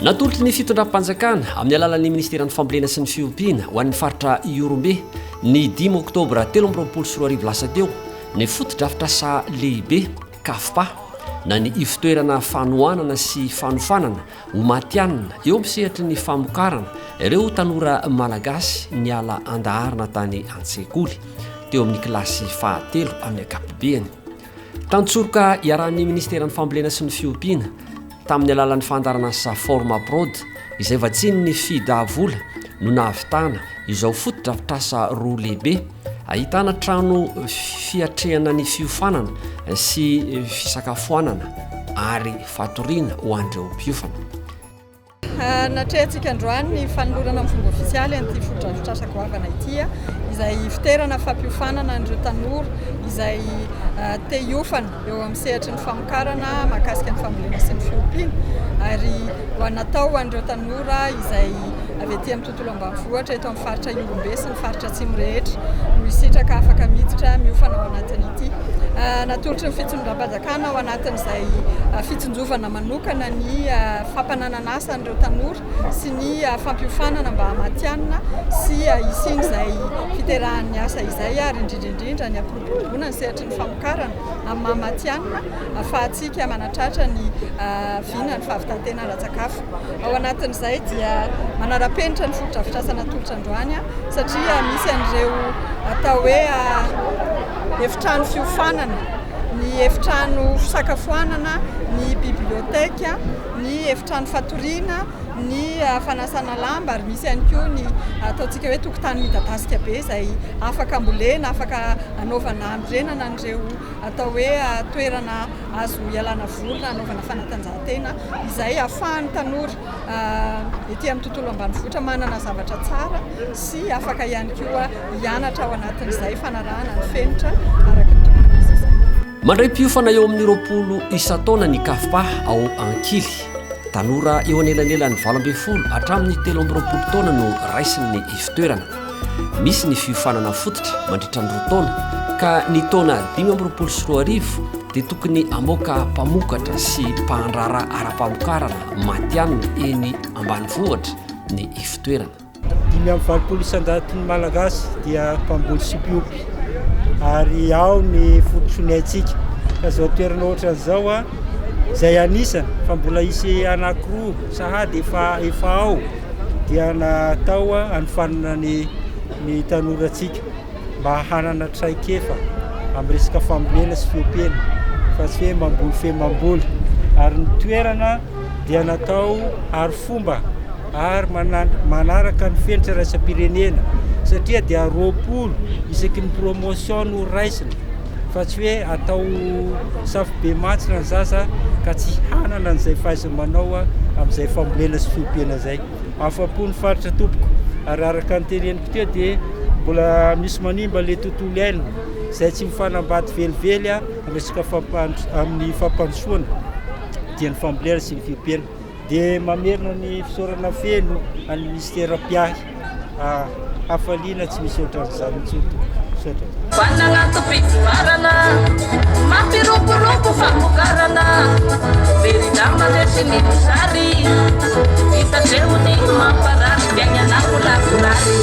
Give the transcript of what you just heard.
Natolotry ny fitondram-panjakana amin'ny alalan'ny ministeran'ny fambolena sy ny fiompiana ho an'ny faritra Ihorombe ny dimy oktobra telo amby roapolo sy roa arivo lasa teo ny fotodrafitrasa lehibe Cafpa, na ny Ivotoerana Fanohanana sy Fanofanana ho Matihanina eo amin'ny sehatry ny famokarana ireo tanora Malagasy niala an-daharana tany an-tsekoly, teo amin'ny kilasy fahatelo amin'ny ankapobeny. Tantsoroka iarahan'ny Ministeran'ny Fambolena sy ny Fiompiana, Tamin'ny alalan'ny fandaharan'asa Formaprod, izay vatsian'ny Fida vola, no nahavitana izao fotodrafitrasa roa lehibe, ahitana trano fiatrehana ny fiofanana sy fisakafoanana ary fatoriana ho an'ireo mpiofana. Natrehantsika androany ny fanolorana amin'ny fomba ofisialy an'ity fotodrafitrasa goavana ity, izay hivonterana fampiofanana an'ireo tanora izay te hiofana. eo amin'ny sehatry ny famokarana mahakasika ny fambolena sy ny fiompiana ary ho an' natao ho an'ireo tanora izay avy aty amin'ny tontolo ambanivohitra eto amin'ny faritra Ihorombe sy ny faritra atsimo rehetra no hisitraka afaka miditra miofana ao anatin' ity Ah, natolotry ny fitsonondram-panjakana ao anatin'izay ah, fitsonjovana manokana ny ah, fampanananasa an'ireo tanora sy ny ah, fampiofanana mba hamatianina sy ah, hisian'izay fiterahan'ny asa izay ary indrindra indrindra ny Mitombona ny sehatry ny famokarana amin'ny maha matihanina ahafahantsika manatratra ny vina ny fahavitan-tena ara-tsakafo. Ao anatin'izay dia manara-penitra ny fotodrafitrasa natolotra androany satria misy an'ireo atao hoe efitrano fiofanana, ny efitrano fisakafoanana, ny biblioteka, ny efitrano fatoriana. ny fanasana lamba ary misy ihany koa ny ataontsika hoe tokotany midadasika be izay afaka ambolena, afaka anaovana hanorenana an'ireo atao hoe toerana azo ialana voly na anaovana fanatanjahantena izay ahafahan'ny tanora ety amin'ny tontolo ambanivohitra manana zavatra tsara sy afaka ihany koa hianatra ao anatin'izay fanarahana ny fenitra araka ny tokony ho izy izay. Mandray mpiofana eo amin'ny roapolo isan-taona ny CAFPA ao Ankily. Tanora eo anelanelan'ny valo ambin'ny folo hatramin'ny telo amby roapolo taona no raisin'ny ifotoerana. Misy ny fiofanana fototra mandritra ny roa taona ka ny taona dimy amby roapolo sy roa arivo dia tokony hamoaka mpamokatra sy mpandrara ara-pamokarana matianina eny ambanivohitra ny ifotoerana. Dimy amby valopolo isan-jaton'ny Malagasy dia mpamboly sy mpiompy ary ao ny fototr'ony haintsika. Ka zao toerana ohatrany zao a, izay anisany fa mbola hisy anankiroa sahady efa efa ao dia natao hanofanana ny ny tanorantsika mba hanana traikefa amin'ny resaka fambolena sy fiompiana fa tsy hoe mamboly fe mamboly ary ny toerana dia natao arifomba ary manaraka ny fenitra iraisam-pirenena satria dia roapolo isaky ny promotion no raisina fa tsy hoe atao safo be mantsina ny zaza ka tsy hanana an'izay fahaiza-manao amin'izay fambolena sy fiompiana izay afa-po ny faritra tompoko ary araka ny teneniko teo dia mbola misy manimba ilay tontolo iainana izay tsy mifanambady velively a resaka fampandro amin'ny fampandrosoana dia ny fambolena sy ny fiompiana dia mamerina ny fisaorana feno an'ny Minisitera mpiahy hafaliana tsy misy ohatran'izany intsony tompoko. Misaotra. Vana anaty fitonarana, mampiroborobo famokarana, very nama resy ny mosary, vita teo ny mamparary fiainana ho lavorary.